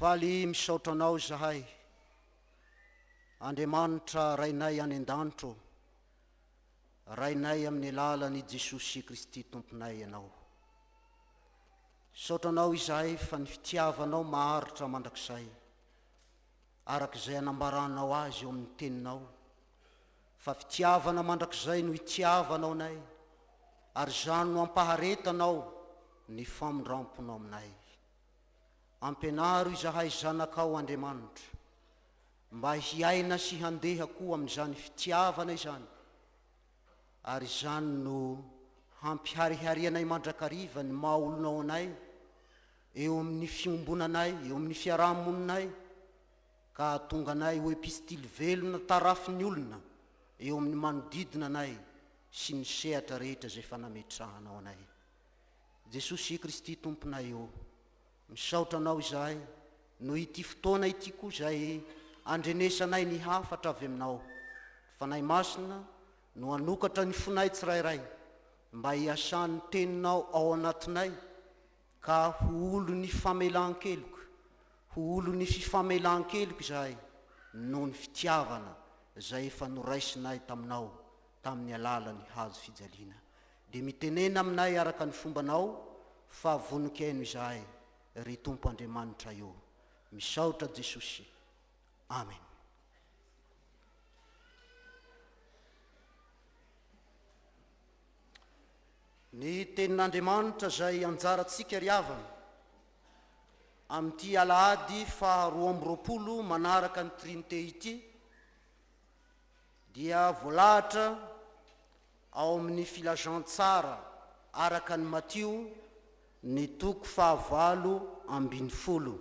Faly misaotra Anao izahay, Andriamanitra Rainay any an-danitra ô, Rainay amin'ny alalan' i Jesosy Kristy Tomponay Ianao. Misaotra Anao izahay fa ny fitiavanao maharitra mandrakizay. araka izay anambaranao azy eo amin'ny Teninao, fa fitiavana mandrakizay no itiavanao anay, ary izany no ampaharetanao ny famindramponao aminay. Ampianaro izahay zanakao, Andriamanitra, mba hiaina sy handeha koa amin'izany fitiavana izany, ary izany no hampihariharianay mandrakariva ny maha-olonao anay, eo amin'ny fiombonanay, eo amin'ny fiaraha-moninay, ka hahatonga anay ho epistily velona tarafin'ny olona eo amin'ny manodidina anay sy ny sehatra rehetra izay efa nametrahanao anay. Jesosy Kristy Tomponay ô, misaotra Anao izahay noho ity fotoana ity koa izay andrenesanay ny hafatra avy Aminao. Ny Fanahy Masina no hanokatra ny fonay tsirairay mba hiasan'ny Teninao ao anatinay, Ka ho olon'ny famelan-keloka, ho olon'ny fifamelan-keloka izahay noho ny fitiavana izay efa noraisinay taminao tamin'ny alalan'ny hazo fijaliana. Dia mitenena aminay araka ny fombanao fa vonon-kiaino izahay, ry Tompo Andriamanitray ô. Misaotra Jesosy. Amen. Ny tenin'Andriamanitra izay anjarantsika ry havana, amin'ity alahady faha roa amby roapolo manaraka ny Trinite ity dia voalahatra ao amin'ny Filazantsara araka an'i Matio ny toko faha valo ambin'ny folo.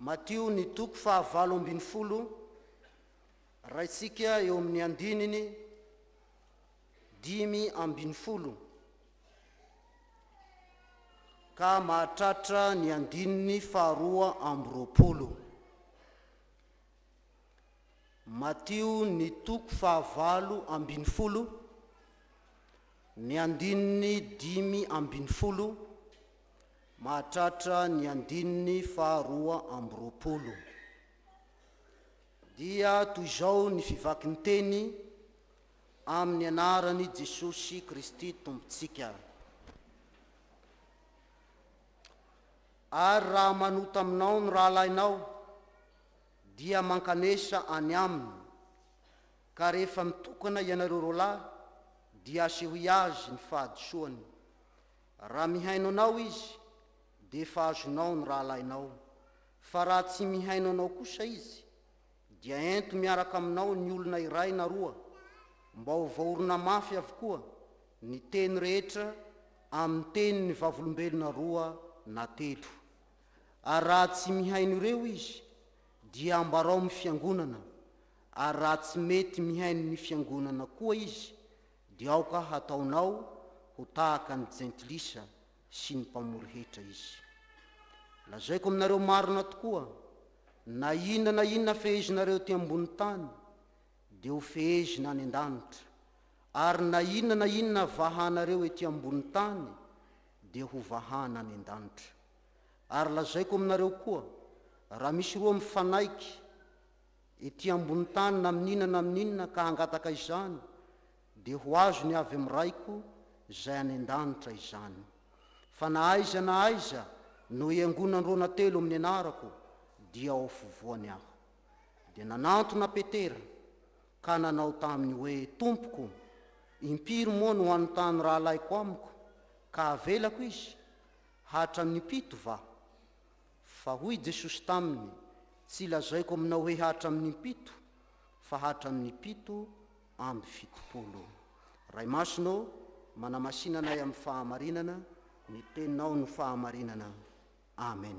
Matio ny toko faha valo ambin'ny folo, raintsika eo amin'ny andininy dimy ambin'ny folo ka mahatratra ny andininy faharoa amby roapolo. Matio ny toko faha valo ambin'ny folo, ny andininy dimy ambin'ny folo, mahatratra ny andininy faharoa amby roapolo, dia toy izao ny fivakin-teny amin'ny anaran'i Jesosy Kristy Tompontsika, Ary raha manota aminao ny rahalahinao, dia mankanesa any aminy, ka rehefa mitokana ianareo roalahy, dia asehoy azy ny fahadisoany, Raha mihaino anao izy, dia efa azonao ny rahalahinao, fa raha tsy mihaino anao kosa izy, dia ento miaraka aminao ny olona iray na roa, mba ho voaorina mafy avokoa ny teny rehetra amin'ny tenin'ny vavolombelona roa na telo. Ary raha tsy mihaino ireo izy, dia ambarao amin'ny fiangonana, ary raha tsy mety mihaino ny fiangonana koa izy, Dia aoka hataonao ho tahaka ny jentilisa sy ny mpamory hetra izy. Lazaiko aminareo marina tokoa, na inona na inona fehezinareo ety ambony tany, dia ho fehezina any an-danitra, ary na inona na inona vahanareo ety ambony tany, dia ho vahana any an-danitra. Ary lazaiko aminareo koa, raha misy roa mifanaiky, Ety ambony tany na amin'inona na amin'inona ka hangataka izany, dia ho azony avy amin'ny Raiko izay any an-danitra izany. Fa na aiza na aiza no hiangonanrona telo amin'ny anarako, dia ao afovoany Aho. Dia nanantona Petera, ka nanao taminy hoe, Tompoko, impiry moa no hanontany rahalaiko amiko, ka havelako izy? Hatramin'ny impito va? Fa hoy Jesosy taminy, Tsy lazaiko aminao hoe hatramin'ny impito, fa hatramin'ny pito amby fitopolo. Ray Masina ô, manamasina anay amin'ny fahamarinana, ny Teninao no fahamarinana. Amen.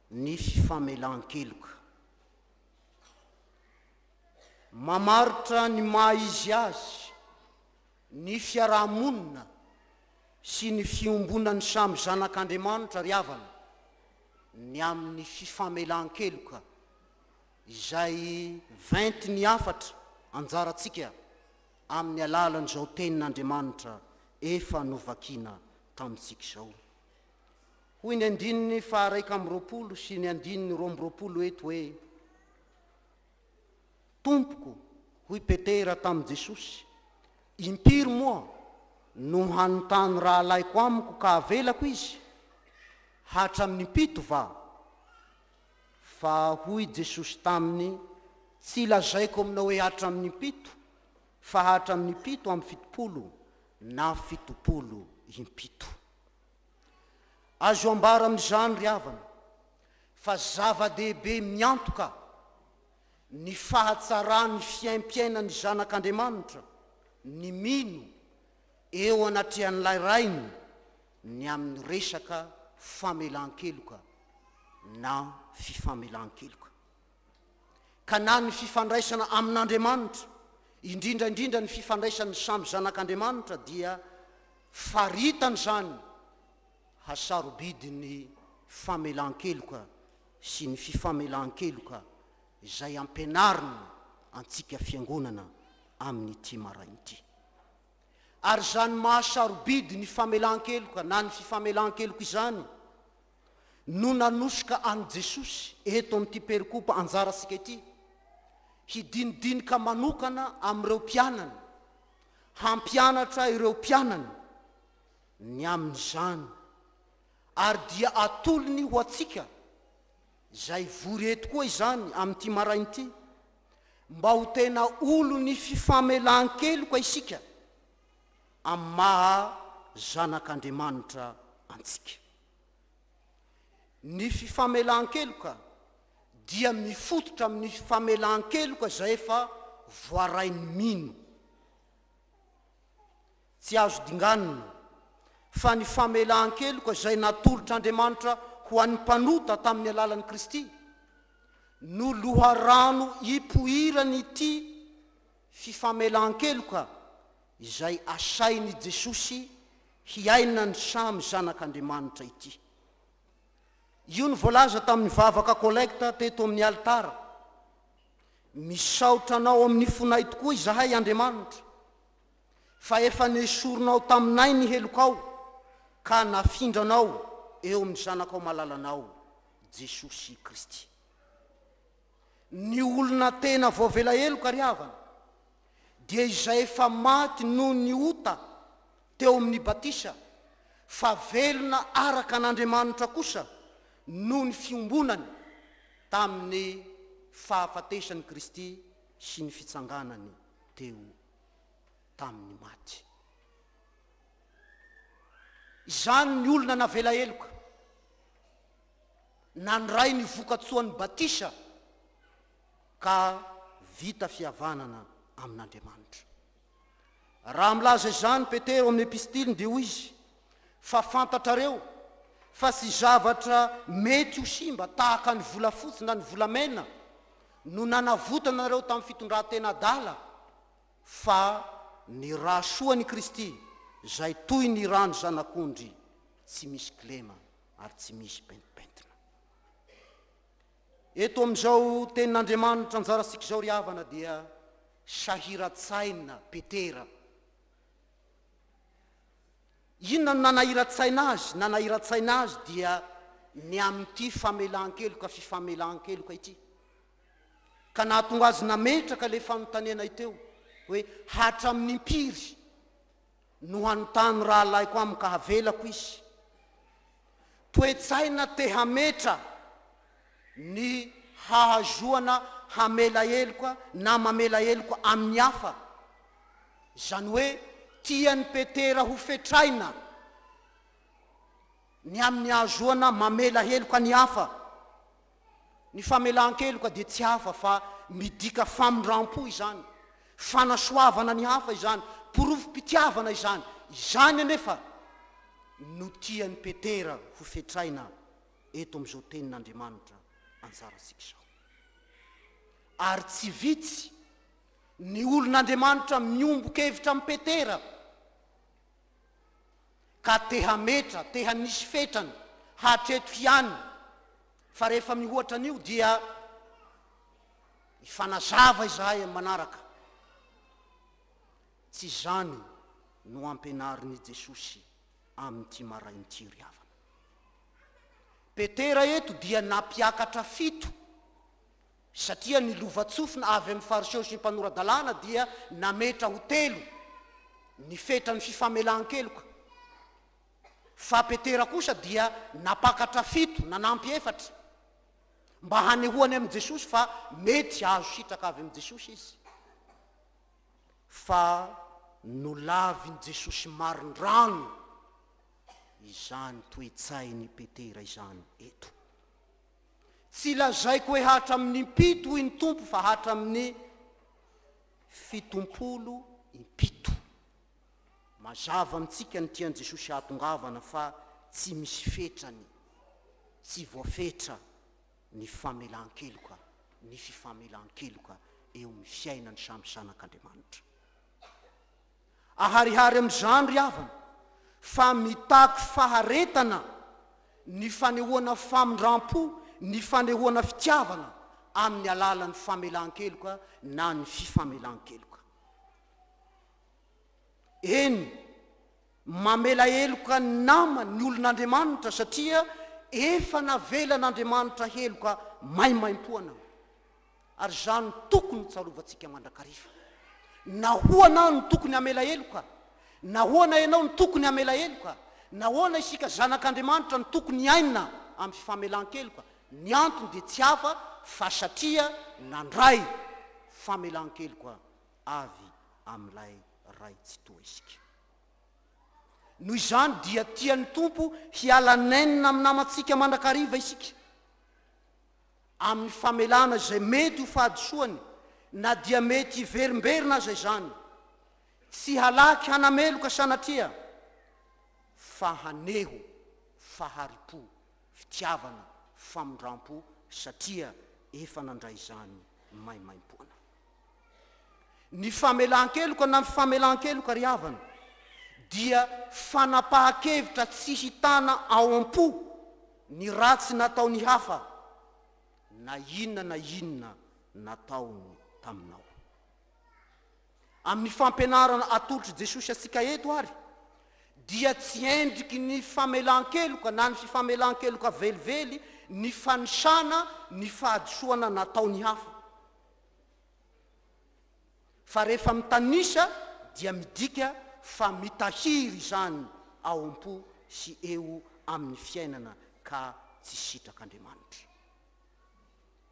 nisy famelan-keloka. Mamaritra ny maha izy azy ny fiaraha-monina sy ny fiombonan'ny samy zanak'Andriamanitra ry havana ny amin'ny fifamelan-keloka izay ventin'ny hafatra anjarantsika amin'ny alalan'izao tenin'Andriamanitra efa novakina tamintsika izao. Hoy ny andininy faharaika amby roapolo sy ny andininy roa amby roapolo eto hoe, Tompoko, hoy Petera tamin'i Jesosy, impiry moa no hanontany rahalahiko amiko ka havelako izy? Hatramin'ny impito va? Fa hoy Jesosy taminy, Tsy lazaiko aminao hoe hatramin'ny impito, fa hatramin'ny fito amby fitopolo na fitopolo impito. Azo ambara amin'izany ry havana fa zava-dehibe miantoka ny fahatsaran'ny fiaimpiainan'ny zanak'Andriamanitra ny mino eo anatrehan'ilay Rainy ny amin'ny resaka famelan-keloka na fifamelan-keloka. ka na ny fifandraisana amin'Andriamanitra, indrindra indrindra ny fifandraisan'ny samy zanak'Andriamanitra dia faritan'izany hasarobidin'ny famelan-keloka sy ny fifamelan-keloka izay ampianarina antsika fiangonana amin'ity maraina ity. Ary izany mahasarobidy ny famelan-keloka na ny fifamelan-keloka izany, no nanosoka an'i Jesosy eto amin'ity perikopa anjarantsika ity hidinidinika manokana amin'ireo mpianany, hampianatra ireo mpianany ny amin'izany, ary dia atolony ho antsika izay vory eto koa izany amin'ity maraina ity, mba ho tena olon'ny fifamelan-keloka isika amin'ny maha zanak'Andriamanitra antsika. Ny fifamelan-keloka dia mifototra amin'ny fifamelan-keloka izay efa voarain'ny mino. Tsy azo dinganina fa ny famelan-keloka izay natolotr'Andriamanitra ho an'ny mpanota tamin'ny alalan'i Kristy no loharano ipoiran'ity fifamelan-keloka izay asain'i Jesosy hiainan'ny samy zanak'Andriamanitra ity. Io no voalaza tamin'ny vavaka kolekta teto amin'ny alitara, Misaotra Anao amin'ny fonay tokoa izahay, Andriamanitra, fa efa nesorinao taminay ny helokao ka nafindranao eo amin'ny Zanakao malalanao, Jesosy Kristy. Ny olona tena voavela heloka ry havana dia izay efa maty noho ny ota teo amin'ny batisa fa velona araka an'Andriamanitra kosa noho ny fiombonany tamin'ny fahafatesan'i Kristy sy ny fitsanganany teo tamin'ny maty. Izany ny olona navela heloka. nandray ny vokatsoan'ny batisa ka vita fihavanana amin'Andriamanitra. Raha milaza izany Petera ao amin'ny epistiliny dia hoy izy, Fa fantatrareo fa tsy zavatra mety ho simba tahaka ny volafotsy na ny volamena no nanavotanareo tamin'ny fitondran-tena adala, fa ny ra soan'i Kristy, izay toy ny ran'ny zanak'ondry tsy misy kilema. ary tsy misy pentimpentina. Eto amin'izao tenin'Andriamanitra anjarantsika izao ry havana dia sahiran-tsaina Petera. Inona no nanahiran-tsaina azy? Nanahiran-tsaina azy dia ny amin'ity famelan-keloka fifamelan-keloka ity ka nahatonga azy nametraka ilay fanontaniana iteo hoe hatramin'impiry Nohanontany rahalahiko amiko ka havelako izy. Toe-tsaina te hametra ny hahazoana hamela heloka na mamela heloka amin'ny hafa, izany hoe tian'i Petera hofetraina ny amin'ny hahazoana mamela heloka ny hafa. Ny famelan-keloka dia tsy hafa fa midika famindram-po izany, fanasoavana ny hafa izany, porofom-pitiavana izany. Izany anefa no tian'i Petera ho fetraina eto amin'izao Tenin'Andriamanitra anjarantsika izao. Ary tsy vitsy ny olon'Andriamanitra miombon-kevitra amin'i Petera. ka te hametra, te hanisy fetrany hatreto ihany, fa rehefa mihoatra an'io dia hifanazava izahay amin'ny manaraka. Tsy izany no ampianarin'i Jesosy amin'ity maraina ity ry havana. Petera eto dia nampiakatra fito. Satria ny lovantsofina avy amin'ny Fariseo sy ny mpanora-dalàna dia nametra ho telo ny fetran'ny fifamelan-keloka, fa Petera kosa dia nampakatra fito, nanampy efatra, mba hanehoany amin'i Jesosy fa mety hahazo sitraka avy amin'i Jesosy izy. Fa nolavin'i Jesosy marindrano izany toe-tsain'i Petera izany eto. Tsy lazaiko hoe hatramin'ny impito hoy ny Tompo fa hatramin'ny fitompolo impito. Mazava amintsika ny tian'i Jesosy hahatongavana fa tsy misy fetrany, tsy voafetra ny famelan-keloka, ny fifamelan-keloka eo amin'ny fiainan'ny samy zanak'Andriamanitra. Aharihary amin'izany ry havana fa mitaky faharetana ny fanehoana famindram-po, ny fanehoana fitiavana amin'ny alalan'ny famelan-keloka na ny fifamelan-keloka. Eny, mamela heloka ny namany ny olon'Andriamanitra satria efa navelan'Andriamanitra heloka maimaimpoana. Ary izany no tokony hotsarovantsika mandrakariva. Nahoana aho no tokony hamela heloka? Nahoana ianao no tokony hamela heloka? Nahoana isika zanak'Andriamanitra no tokony hiaina amin'ny fifamelan-keloka? Ny antony dia tsy hafa fa satria nandray famelan-keloka avy amin'ilay Ray Tsitoha isika. Noho izany dia tian'ny Tompo hiala nenina amin'ny namantsika mandrakariva isika. amin'ny famelana izay mety ho fahadisoany na dia mety hiverimberina aza izany, tsy halaky hanameloka sanatria fa haneho fahari-po, fitiavana, famindram-po satria efa nandray izany maimaimpoana. Ny famelan-keloka na ny famelan-keloka ry havana dia fanapahan-kevitra tsy hitana ao am-po ny ratsy nataon'ny hafa na inona na inona nataony taminao. Amin'ny fampianarana atolotr'i Jesosy antsika eto ary dia tsy endriky ny famelan-keloka na ny fifamelan-keloka velively ny fanisana ny fahadisoana nataon'ny hafa. Fa rehefa mitanisa dia midika fa mitahiry izany ao am-po sy eo amin'ny fiainana ka tsy sitrak'Andriamanitra.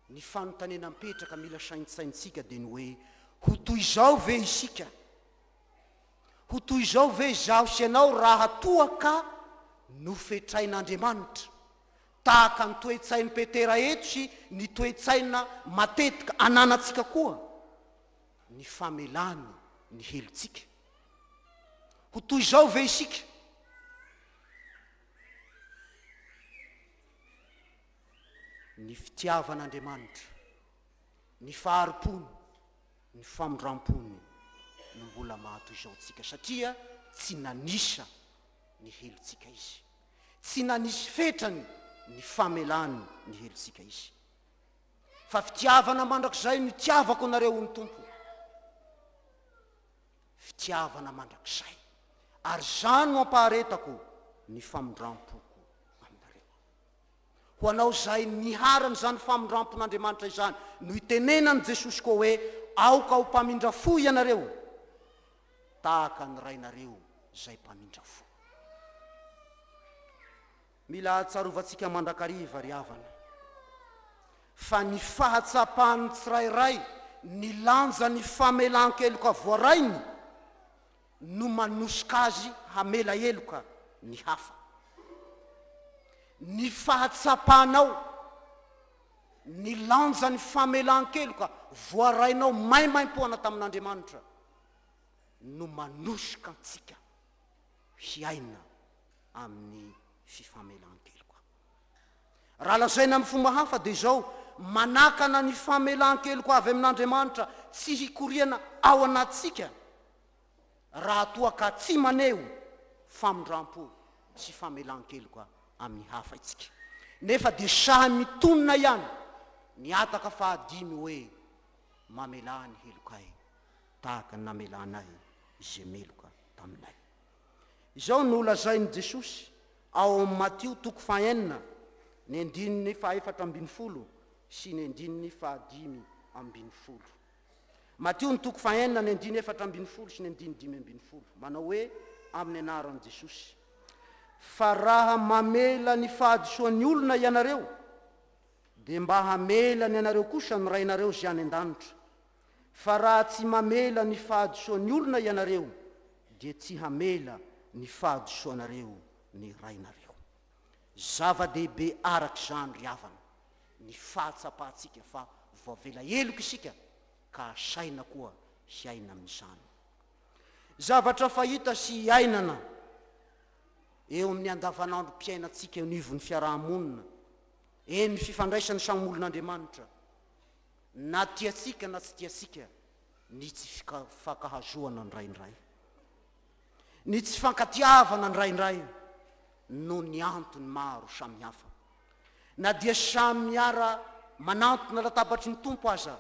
Ny fanontaniana mipetraka mila saintsaintsika dia ny hoe, ho toy izao ve isika? Ho toy izao ve izaho sy ianao raha toa ka nofetrain'Andriamanitra? Tahaka ny toe-tsain'i Petera eto sy ny toe-tsaina matetika ananantsika koa ny famelany ny helotsika. Ho toy izao ve isika? Ny fitiavan'Andriamanitra, ny fahari-pony, ny famindram-pony no mbola maha toy izao antsika, satria tsy nanisa ny helotsika Izy. Tsy nanisy fetrany ny famelany ny helotsika Izy. Fa fitiavana mandrakizay no itiavako anareo hoy ny Tompo. Fitiavana mandrakizay. Ary izany no ampaharetako ny famindram-poko aminareo. Ho anao izay niharan'izany famindram-pon'Andriamanitra izany no itenenan'i Jesosy koa hoe, Aoka ho mpamindra fo ianareo. tahaka ny rainareo izay mpamindra fo. Mila atsarovantsika mandrakariva, ry havana, fa ny fahatsapan'ny tsirairay ny lanjan'ny famelan-keloka voarainy no manosika azy hamela heloka ny hafa. Ny fahatsapanao ny lanjan'ny famelan-keloka voarainao maimaimpoana tamin'Andriamanitra no manosoka antsika hiaina amin'ny fifamelan-keloka. Raha lazaina amin'ny fomba hafa dia izao, manakana ny famelan-keloka avy amin'Andriamanitra tsy hikoriana ao anatintsika raha toa ka tsy maneho famindram-po sy famelan-keloka amin'ny hafa isika. Nefa dia sahy mitonona ihany ny hataka fahadimy hoe, Mamelà ny helokay. tahaka ny namelanay izay meloka taminay. Izao no lazain'i Jesosy ao amin'ny Matio toko fahenina ny andininy fahefatra ambin'ny folo sy ny andininy fahadimy ambin'ny folo. Matio ny toko fahenina ny andiny efatra ambin'ny folo sy ny andiny dimy ambin'ny folo. Manao hoe amin'ny anaran'i Jesosy, Fa raha mamela ny fahadisoan'ny olona ianareo, dia mba hamela ny anareo kosa ny Rainareo izay any an-danitra. fa raha tsy mamela ny fahadisoan'ny olona ianareo dia tsy hamela ny fahadisoanareo ny Rainareo. Zava-dehibe araka izany ry havana ny fahatsapantsika fa voavela heloka isika ka asaina koa hiaina amin'izany zavatra fahita sy iainana eo amin'ny andavanandrom-piainantsika eo anivon'ny fiaraha-monina, eny fifandraisan'ny samy olon'Andriamanitra. Na tiantsika na tsy tiantsika, ny tsy fifankahazoana indraindray, ny tsy fifankatiavana indraindray noho ny antony maro samihafa, na dia samy miara manantona latabatry ny Tompo aza,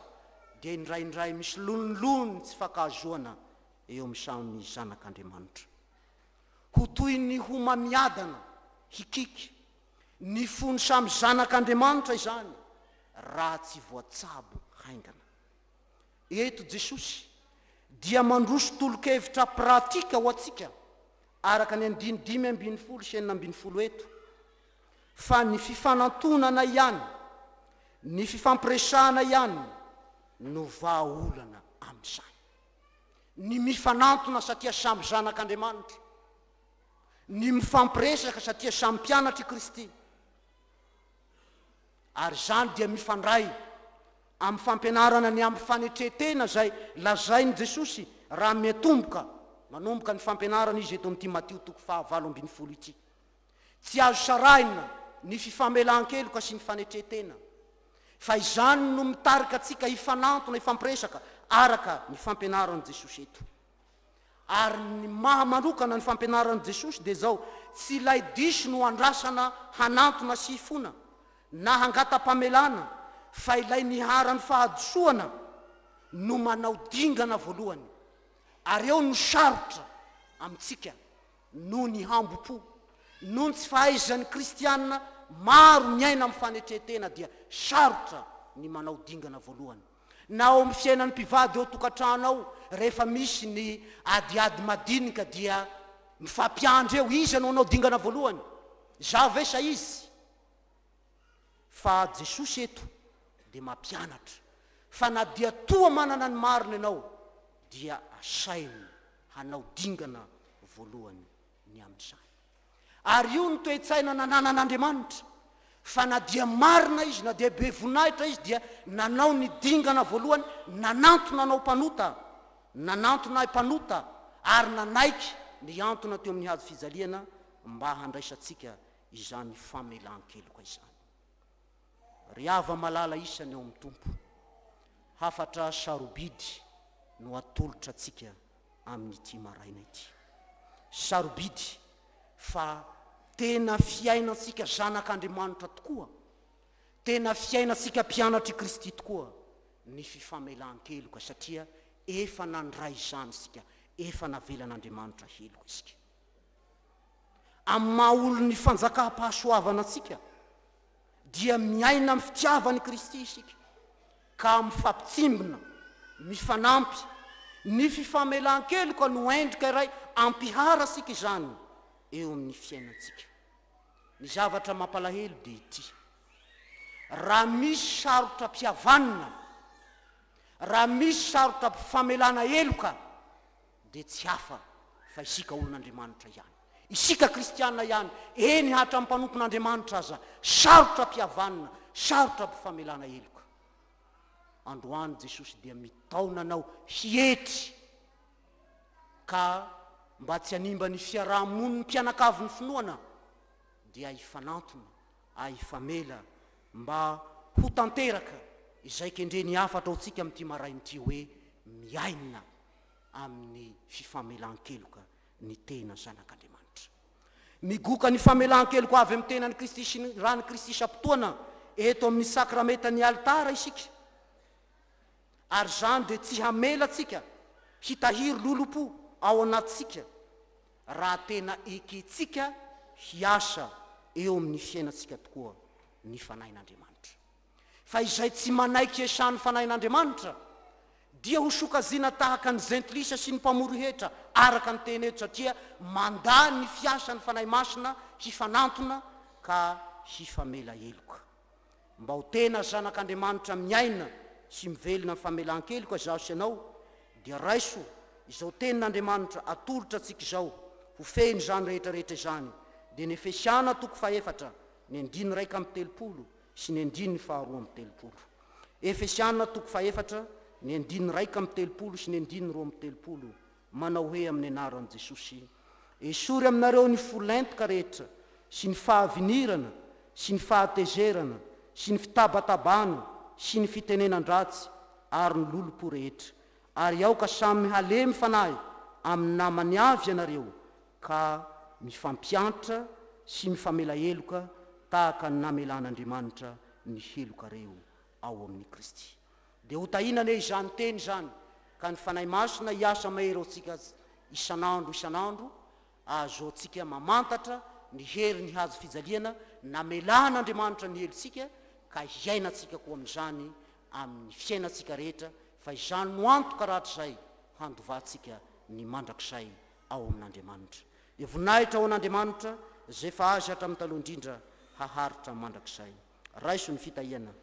dia indraindray misy lonilony tsy fifankahazoana eo amin'ny samy zanak'Andriamanitra. Ho toy ny homamiadana, hikiky, Ny fon'ny samy zanak'Andriamanitra izany raha tsy voatsabo haingana. Eto Jesosy dia mandroso tolo-kevitra pratika ho antsika araka ny andiny dimy ambin'ny folo sy enina ambin'ny folo eto fa ny fifanantonana ihany, ny fifampiresahana ihany no vahaolana amin'izany. Ny mifanantona satria samy zanak'Andriamanitra. ny mifampiresaka satria samy mpianatr' i Kristy, ary izany dia mifandray amin'ny fampianarana ny amin'ny fanetren-tena izay lazain'i Jesosy raha miatomboka manomboka ny fampianarana Izy eto amin'ity Matio toko fahavalo ambin'ny folo ity. Tsy azo sarahina ny fifamelan-keloka sy ny fanetren-tena, fa izany no mitarika antsika hifanantona, hifampiresaka araka ny fampianaran'i Jesosy eto. Ary ny maha manokana ny fampianaran'i Jesosy dia izao, Tsy ilay diso no andrasana hanantona sy hifona, na hangata-pamelana, fa ilay niharan'ny fahadisoana no manao dingana voalohany. Ary eo no sarotra amintsika, noho ny hambom-po, noho ny tsy fahaizan'ny kristiana maro miaina amin'ny fanetren-tena dia sarotra ny manao dingana voalohany. na ao amin'ny fiainan'ny mpivady eo an-tokantrano ao rehefa misy ny adiady madinika dia mifampiandry eo iza no hanao dingana voalohany za ve sa izy fa jesosy eto dia mampianatra fa na dia toa manana ny marina ianao dia asainy hanao dingana voalohany ny amin'izany. Ary io no toe-tsaina nananan'Andriamanitra, fa na dia marina izy, na dia be voninahitra izy, dia nanao ny dingana voalohany, nanantona anao mpanota, nanantona ahy mpanota, ary nanaiky nihantona teo amin'ny hazo fijaliana mba handraisantsika izany famelan-keloka izany. Ry hava-malala isany ao amin'ny Tompo, hafatra sarobidy no atolotra antsika amin'ity maraina ity. Sarobidy fa tena fiainantsika zanak'Andriamanitra tokoa, tena fiainantsika mpianatr'i Kristy tokoa ny fifamelan-keloka satria efa nandray izany isika, efa navelan'Andriamanitra heloka isika. Amin'ny maha-olon'ny fanjakam-pahasoavana antsika, dia miaina amin'ny fitiavan'i Kristy isika ka mifampitsimbina, mifanampy. Ny fifamelan-keloka no endrika iray ampiharasika izany eo amin'ny fiainantsika. Ny zavatra mampalahelo dia ity, raha misy sarotra-pihavanana, raha misy sarotra-pifamelana heloka, dia tsy hafa fa isika olon'Andriamanitra ihany, isika kristiana ihany, eny hatramin'ny mpanompon'Andriamanitra aza, sarotra ampihavanina, sarotra ampifamelana heloka. Androany Jesosy dia mitaona anao hietry ka mba tsy hanimba ny fiaraha-monin'ny mpianakavin'ny finoana, dia hifanantona ary hifamela mba ho tanteraka izay kendreny hafatra ao antsika amin'ity maraina ity hoe, Miaina amin'ny fifamelan-keloka ny tena zanak'Andriamanitra. Migoka ny famelan-keloka avy amin'ny tenan'i Kristy sy ny ran'i Kristy isam-potoana eto amin'ny sakramentan'ny alitara isika, ary izany dia tsy hamela antsika hitahiry lolompo ao anatintsika raha tena ekentsika hiasa eo amin'ny fiainantsika tokoa ny Fanahin'Andriamanitra. Fa izay tsy manaiky Esa ny Fanahin'Andriamanitra, dia ho sokajiana tahaka ny Jentilisa sy ny mpamory hetra, araka ny teny eto, satria mandà ny fiasan'ny Fanahy Masina hifanantona ka hifamela heloka. Mba ho tena zanak'Andriamanitra miaina sy mivelona amin'ny famelan-keloka izaho sy ianao, dia raiso izao Tenin'Andriamanitra atolotra antsika izao, ho fehiny izany rehetra rehetra izany. Dia ny Efesiana toko fahefatra, ny andininy iraika amby telopolo, sy ny andininy faharoa amby telopolo. Efesiana toko fahefatra, ny andininy iraika amby telopolo sy ny andininy roa amby telopolo, manao hoe amin'ny anaran'i Jesosy, Esory aminareo ny fo lentika rehetra, sy ny fahavinirana, sy ny fahatezerana, sy ny fitabatabana, sy ny fitenenan-dratsy, ary ny lolompo rehetra. Ary aoka samy halemy fanahy amin'ny namany avy ianareo, ka mifampiantra sy mifamela heloka tahaka ny namelan'Andriamanitra ny heloka reo ao amin'i Kristy. Dia ho tahiana anie izany teny izany, ka ny Fanahy Masina hiasa mahery ao antsika isan'andro isan'andro, ahazoantsika mamantatra ny herin'ny hazo fijaliana namelan'Andriamanitra ny helontsika, ka hiainantsika koa amin'izany amin'ny fiainantsika rehetra, fa izany no antoka rahatrizay handovantsika ny mandrakizay ao amin' Andriamanitra. Dia voninahitra ho an' Andriamanitra, Izay efa azy hatramin' ny taloha indrindra, haharitra mandrakizay. Raiso ny fitahiana.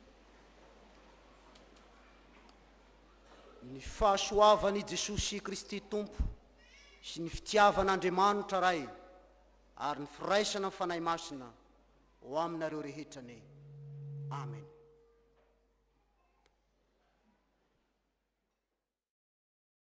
Ny fahasoavan' i Jesosy Kristy Tompo sy ny fitiavan' Andriamanitra Ray ary ny firaisana ny Fanahy Masina ho aminareo rehetra anie. Amena.